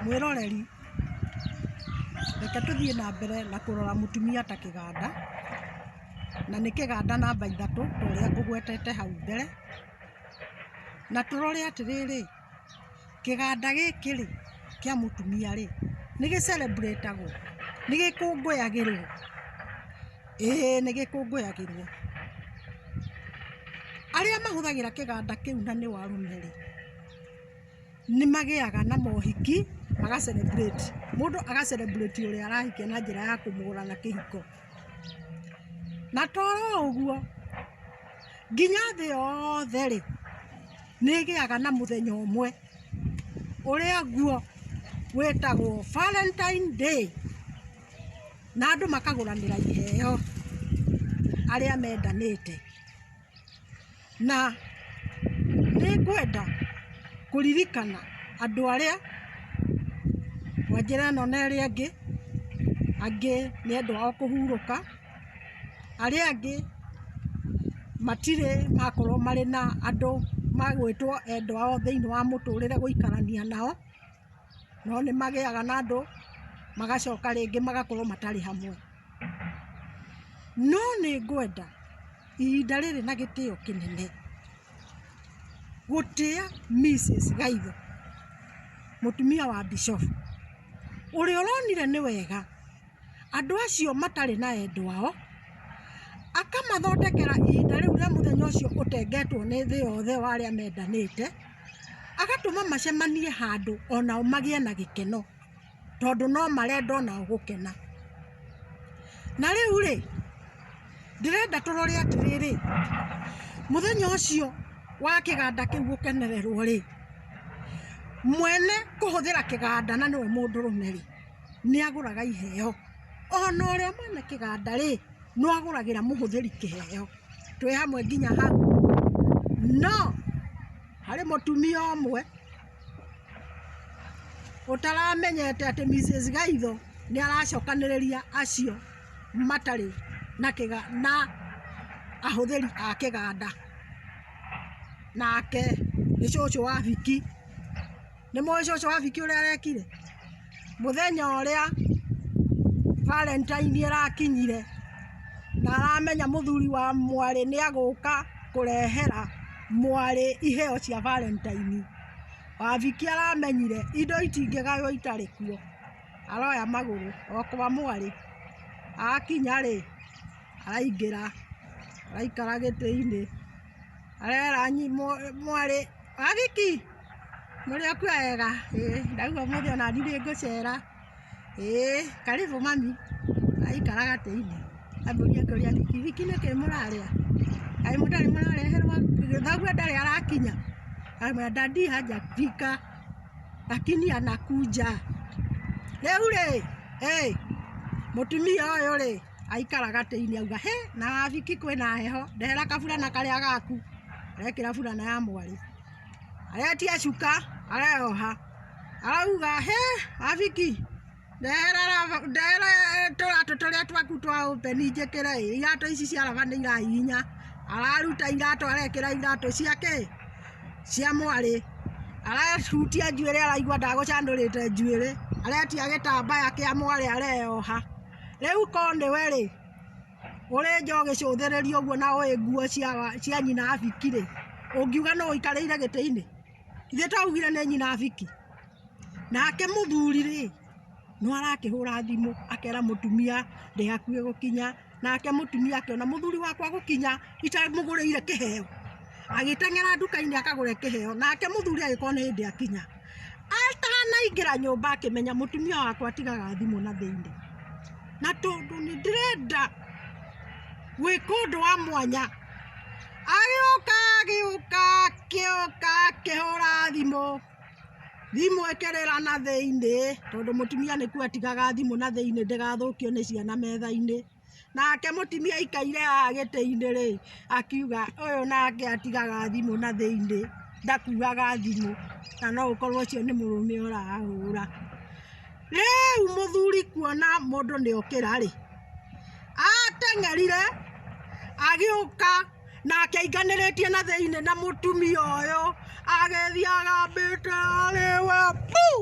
Mwĩroreri, reke tũthiĩ na mbere na kũrora mũtumia ta kĩganda, na nĩ kĩganda namba ithatũ ta ũrĩa ngũgwetete hau mbere, na tũrore atĩrĩrĩ, kĩganda gĩkĩ rĩ, kĩa mũtumia rĩ, nĩ gĩ celebrate agwo? Nĩ gĩkũngũyagĩrwo? Ĩĩ nĩ gĩkũngũyagĩrwo. Arĩa mahũthagĩra kĩganda kĩu na nĩ o arũme rĩ, nĩ magĩaga na mohiki maga celebrate. Mũndũ aga celebrate ũrĩa arahikia na njĩra ya kũmũgũra na kĩhiko. Na to oro ũguo, nginya thĩ yothe rĩ, nĩ ĩgĩaga na mũthenya ũmwe ũrĩa guo wĩtagwo Valentine Day, na andũ makagũranĩra iheo arĩa mendanĩte. na nĩ ngwenda kũririkana andũ arĩa kwa njĩra ĩno na ĩrĩa ĩngĩ, angĩ nĩ andũ ao kũhurũka, arĩa angĩ matirĩ makorwo marĩ na andũ magwĩtwo endwa ao thĩiniĩ wa mũtũrĩre gũikarania nao, no nĩ magĩaga na andũ magacoka rĩngĩ magakorwo matarĩ hamwe. No nĩ ngwenda ihinda rĩrĩ na gĩtĩo kĩnene, gũtĩa Mrs. Gaitho, mũtumia wa Bishofu, ũrĩa ũronire nĩ wega andũ acio matarĩ na endwa ao, akamathondekera ihinda rĩu rĩa mũthenya ũcio ũtengetwo nĩ thĩ yothe wa arĩa mendanĩte, agatũma macemanie handũ onao magĩe na gĩkeno. tondũ no marenda o nao gũkena. Na rĩu-rĩ, ndĩrenda tũrore atĩrĩrĩ, mũthenya ũcio wa kĩganda kĩu gũkenererwo-rĩ, mwene kũhũthĩra kĩganda na nĩwe mũndũrũme-rĩ, nĩagũraga iheo, ona ũrĩa mwene kĩganda-rĩ, no agũragĩra mũhũthĩri kĩheo. Twĩ hamwe nginya hau? No, harĩ mũtumia ũmwe. ũtaramenyete atĩ Mrs Gaitho nĩ aracokanĩrĩria acio matarĩ na kĩga na ahũthĩri a kĩganda, nake nĩ cũcũ wa Viki, nĩmũĩ cũcũ wa Viki ũrĩa arekire? mũthenya ũrĩa Valentine ĩrakinyire na aramenya mũthuri wa mwarĩ nĩ agũka kũrehera mwarĩ iheo cia Valentine. Wabiki aramenyire indo itingĩgaywo itarĩ kuo, aroya magũrũ o kwa mwarĩ. Akinya rĩ, araingĩra araikara gĩtĩ-inĩ. areranyi mwarĩ wa gĩki mũrĩ o kuo wega ndaigua ũmũthĩ ona niĩ nĩ ngũcera karĩbũ mami aikara gatĩ-inĩ ambũria kũria gĩki gĩki nĩkĩ mũrarĩa kaĩ mũtarĩ mũrareherwo thoguo ndarĩ arakinya amwĩra dadi hajafika lakini anakuja rĩu rĩ mũtumia ũyũ rĩ aikara gatĩinĩ auga hĩ na wabiki kwĩna heho ndehera kaburana karĩa gaku arekĩra burana ya mwarĩ aretia cuka areoha arauga hĩ wabiki ndehera raba- ndehera eh, tũratũ tũrĩa twaku twa ũpeni njĩkĩre ĩ, iratũ ici cia raba nĩ irahihinya araruta iratũ arekĩra iratũ ciake cia mwarĩ arahutia njuĩrĩ araigua ndagũcandũrĩte njuĩrĩ aretia gĩtambaya kĩa mwarĩ areyoha Rĩu ko nĩwe rĩ, ũrĩ nja ũgĩcũthĩrĩria ũguo na ũĩ nguo cia wa- cia nyina a Biki rĩ, ũngiuga nũ ũikarĩire gĩtĩ-inĩ? Ithuĩ twaugire nĩ nyina a Biki. Nake mũthuri rĩ, no arakĩhũra thimũ akera mũtumia ndĩ hakuhĩ gũkinya, nake mũtumia akĩona mũthuri wakwa gũkinya itamũgũrĩire kĩheo. Agĩteng'era nduka-inĩ akagũre kĩheo, nake mũthuri agĩkorwo nĩ hĩndĩ akinya. Atanaingĩra nyũmba akĩmenya mũtumia wakwa atigaga thimũ na thĩinĩ, na tondũ nĩ ndĩrenda gwĩka ũndũ wa mwanya, agĩũka agĩũka agĩũka akĩhũra thimũ, thimũ ĩkĩrĩra na thĩinĩ, tondũ mũtumia nĩkuga atigaga thimũ na thĩinĩ ndĩgathũkio nĩ ciana metha-inĩ. nake mũtimia aikaire haha gĩtĩ-inĩ rĩ, akiuga ũyũ nake atigaga thimũ na thĩiniĩ, ndakuaga thimũ, na no ũkorwo ũcio nĩ mũrũme ũrahũra. Rĩu mũthuri kuona mũndũ nĩ okĩra rĩ, ateng'erire agĩũka na akĩinganĩrĩtie na thĩiniĩ na mũtumia ũyũ agĩthiĩ agambĩte arĩ we puu!